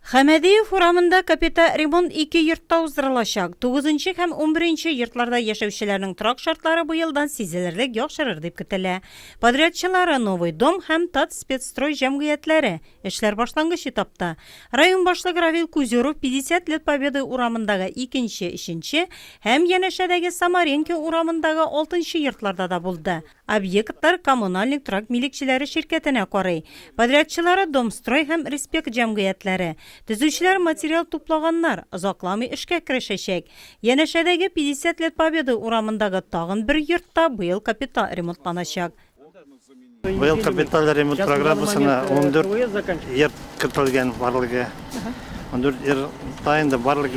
Хәмәдиев урамында капита ремонт ике йортта уздырылачак. Тугызынчы һәм унберенче йортларда яшәүчеләрнең торак шартлары бу елдан сизелерлек яхшырыр дип көтелә. Подрядчылары Новый дом һәм Татспецстрой җәмгыятьләре, эшләр башлангыч этапта. Район башлыгы Равил Кузеров 50 лет Победы урамындагы икенче, өченче һәм янәшәдәге Самаренки урамындагы алтынчы йортларда да булды. Объектлар Коммунальник торак милекчеләре ширкәтенә карый. Подрядчылары Домстрой һәм Респект җәмгыятьләре. Төзүчеләр материал туплаганнар, озакламый эшкә керешәчәк. Янәшәдәге 50 лет Победы урамындагы тагын бер йорт та быел капиталь ремонтланачак. Быел капиталь ремонт программасына ундүрт йорт кертелгән барлыгы. Дүрт елда инде барлык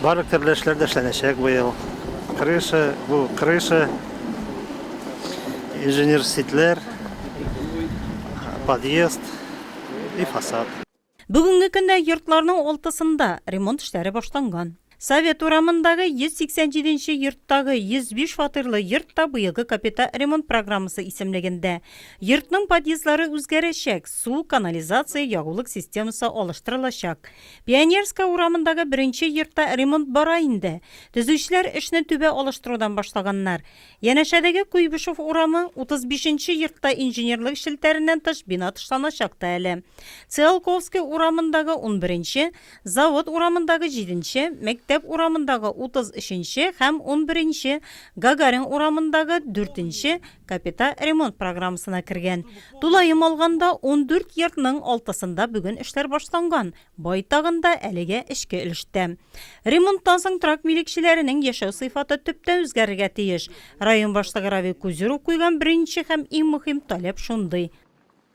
барлык төрле эшләр дә эшләнәчәк быел. Крыша, бу крыша, инженер ситләр, подъезд и фасад. Бүгенге көндә йортларның алтысында ремонт эшләре башланган. Совет урамындагы 187 нче йорттагы 105 фатирлы йорт та быелгы капита ремонт программасы исемлегендә. Йортның подъездлары үзгәрәчәк, су, канализация, ягулык системасы алыштырылачак. Пионерская урамындагы беренче йортта ремонт бара инде. Төзүчеләр эшне түбә алыштырудан башлаганнар. Янәшәдәге Куйбышев урамы 35 нче йортта инженерлык челтәреннән тыш бина тышланачак та әле. Циолковский урамындагы унберенче, Завод урамындагы җиденче, Мәктәп урамындагы утыз өченче һәм унберенче, Гагарин урамындагы дүртенче капита ремонт программасына кергән. Тулаем алганда, ундүрт йортның алтысында бүген эшләр башланган, байтагында әлегә эчке өлештә. Ремонттан соң торак милекчеләренең яшәү сыйфаты төптән үзгәрергә тиеш. Район башлыгы Равил Кузеров куйган беренче һәм иң мөһим таләп шундый.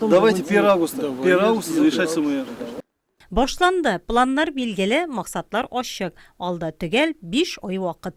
Давайте 1 августа. 1 августа завершать СМР. Башланды, планнар билгеле, максатлар ачык, алда төгәл биш ай вакыт.